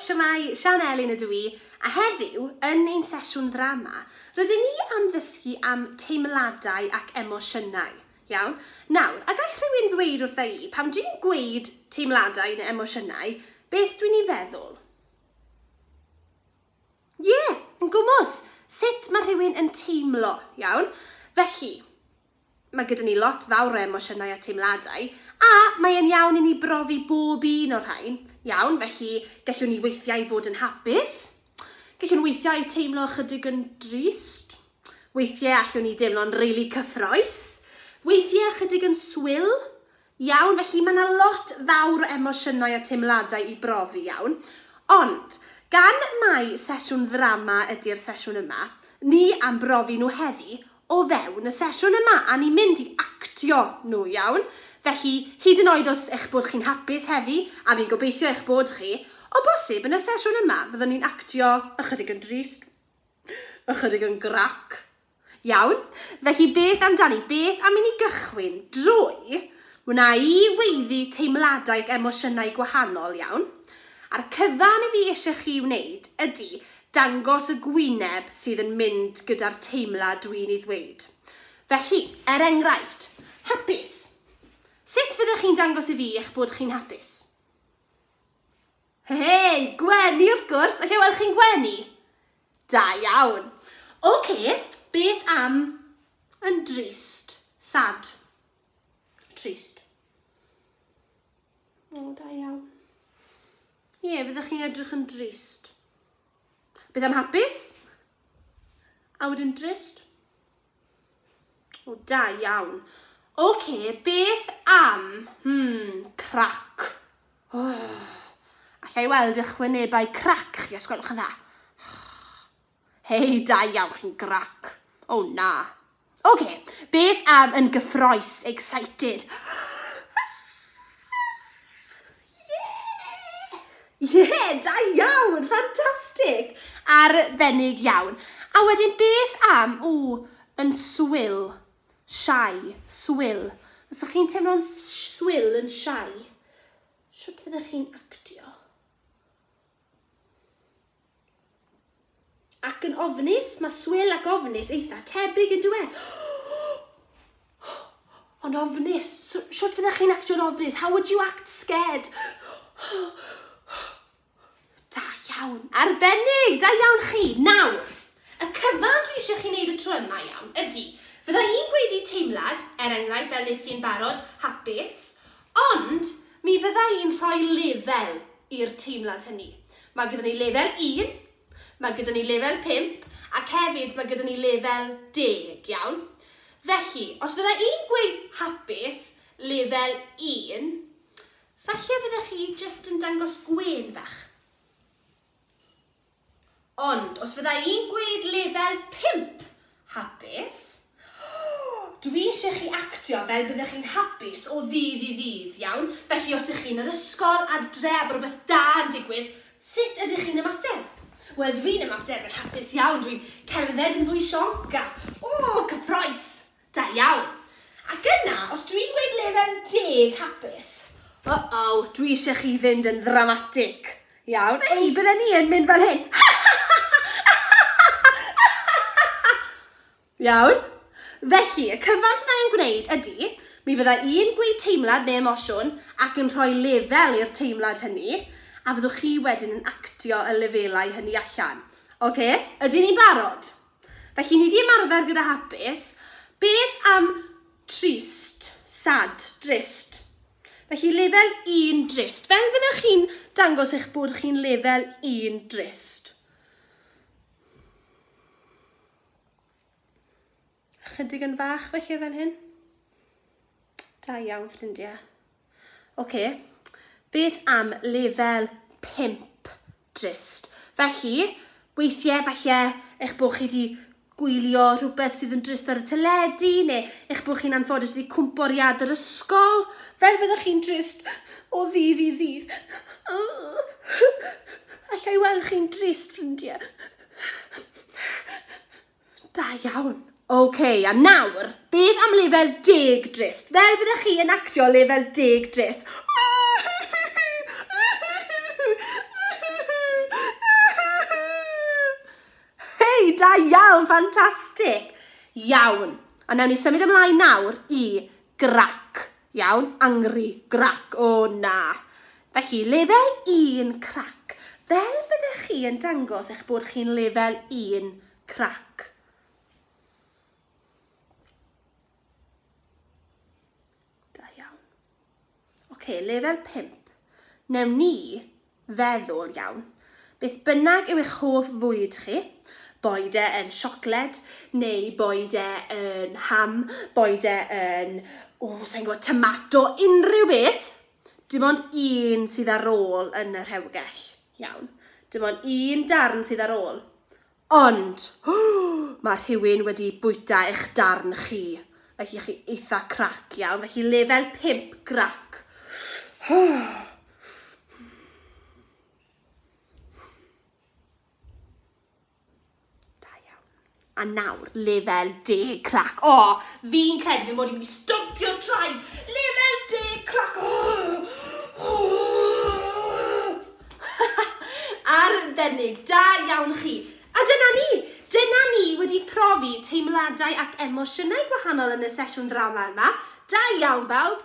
Siamai, Sian Elin ydw i, a heddiw, yn ein sesiwn ddrama, rydyn ni am ddysgu am teimladau ac emosiynau. Iawn? Nawr, a gall rhywun ddweud wrtha i, pam dwi'n gweud teimladau neu emosiynau, beth dwi'n ei feddwl? Ie, yn gwmws, sut mae rhywun yn teimlo, iawn? Felly, mae gyda ni lot fawr o emosiynau a teimladau, a mae e'n iawn i ni brofi bob un o'r rhain, iawn? Felly, gellwn ni weithiau fod yn hapus, gellwn weithiau teimlo ychydig yn drist, weithiau allwn ni deimlo'n rili cyffroes, weithiau ychydig yn swil, Iawn, felly mae 'na lot fawr o emosiynau a teimladau i brofi, iawn. Ond, gan mai sesiwn ddrama ydi'r sesiwn yma, ni am brofi nhw heddi o fewn y sesiwn yma, a ni'n mynd i actio nhw, iawn? Felly, hyd yn oed os eich bod chi'n hapus heddi, a fi'n gobeithio eich bod chi, o bosib yn y sesiwn yma fyddwn ni'n actio ychydig yn drist, ychydig yn grac, Iawn, felly beth amdani? Beth am i ni gychwyn drwy wna i weiddi teimladau ac emosiynau gwahanol, iawn? A'r cyfan i fi eisiau chi wneud ydy dangos y gwyneb sydd yn mynd gyda'r teimlad dwi'n ei ddweud. Felly, er enghraifft, hapus. Sut fyddech chi'n dangos i fi eich bod chi'n hapus? Hei! Gwenu wrth gwrs! Alla i weld chi'n gwenu? Da iawn! Oce, beth am yn drist? Sad. Trist. O, da iawn. Ie, yeah, fyddwch chi'n edrych yn drist. Beth am hapus? A wedyn drist? O, da iawn. OK, beth am, hmm, crac? Oh, allai weld eich wynebau crac chi os gwelwch yn dda. Hei, da iawn, chi'n grac. O, oh, na. OK, beth am yn gyffroes, excited? Ie! Ie! Da iawn! Fantastic! Arbennig iawn. A wedyn beth am, o, yn swil, shy, swil. Os ydych chi'n teimlo'n swil yn shy, sut fyddech chi'n actio? Ac yn ofnus, mae swil ac ofnus eitha tebyg yn dywe. Ond ofnus, shwt fyddech chi'n actio'n ofnus? How would you act scared? Da iawn, arbennig, da iawn chi. Nawr, y cyfan dwi eisiau chi wneud y tro yma iawn ydy, fydda i'n gweiddi teimlad, er enghraifft fel nes i'n barod, hapus, Ond, mi fydda i'n rhoi lefel i'r teimlad hynny. Mae gyda ni lefel un, mae gyda ni lefel pump, ac hefyd mae gyda ni lefel deg, iawn? Felly, os fydda i'n gweud hapus, lefel un, falle fydda chi jyst yn dangos gwên bach. Ond os fydda i'n gweud lefel pump hapus, dwi eisiau chi actio fel byddech chi'n hapus o ddydd i ddydd, iawn? Felly os ych chi yn yr ysgol, adre a bod rhywbeth da yn digwydd, sut ydych chi'n ymateb? Wel, dwi'n ymateb yn hapus iawn, dwi'n cerdded yn fwy sionc a, o, cyffrous! Da iawn. Ac yna, os dwi'n gweud lefel deg hapus, uh-oh, dwi eisiau chi fynd yn ddramatig. Iawn, felly bydden ni yn mynd fel hyn. Iawn? Felly, y cyfan sydd angen gwneud ydy, mi fydda i'n gweud teimlad neu emosiwn ac yn rhoi lefel i'r teimlad hynny, a fyddwch chi wedyn yn actio y lefelau hynny allan. Oce? Ydyn ni'n barod? Felly, ni di ymarfer gyda hapus. Beth am trist, sad, drist? Felly, lefel 1 drist. Fel fyddech chi'n dangos eich bod chi'n lefel 1 drist? Chydig yn fach felly fel hyn. Da iawn, ffrindiau. Ocê, beth am lefel pump drist? Felly, weithiau falle eich bod chi wedi gwylio rhywbeth sydd yn drist ar y teledu, neu eich bod chi'n anffodus wedi cwmpo ar iad yr ysgol, fel fyddwch chi'n drist o ddydd i ddydd. Alla i weld chi'n drist, ffrindiau. Da iawn! Ok, a nawr, beth am lefel deg drist? Fel fyddech chi yn actio lefel deg drist. Hei, da iawn, ffantastig! Iawn, a nawn ni symud ymlaen nawr i grac. Iawn, angry, grac, o na! Felly, lefel un, crac. Fel fyddech chi yn dangos eich bod chi'n lefel un, crac. Da iawn. Oce, lefel pump. Newn ni feddwl iawn. Beth bynnag yw eich hoff fwyd chi, boed e yn siocled, neu boed e yn ham, boed e yn, o, sa'n gwybod, tomato, unrhyw beth, dim ond un sydd ar ôl yn y rhewgell. Iawn. Dim ond un darn sydd ar ôl. Ond, mae rhywun wedi bwyta eich darn chi. Felly chi eitha crac iawn, felly lefel 5 grac. A nawr, lefel deg crac. O, oh, fi'n credu fi mod i'n mynd i stopio traed. Lefel deg crac. Oh, oh. Arbennig! Da iawn chi! A dyna ni! Dyna ni wedi profi teimladau ac emosiynau gwahanol yn y sesiwn ddrama yma. Da iawn bawb!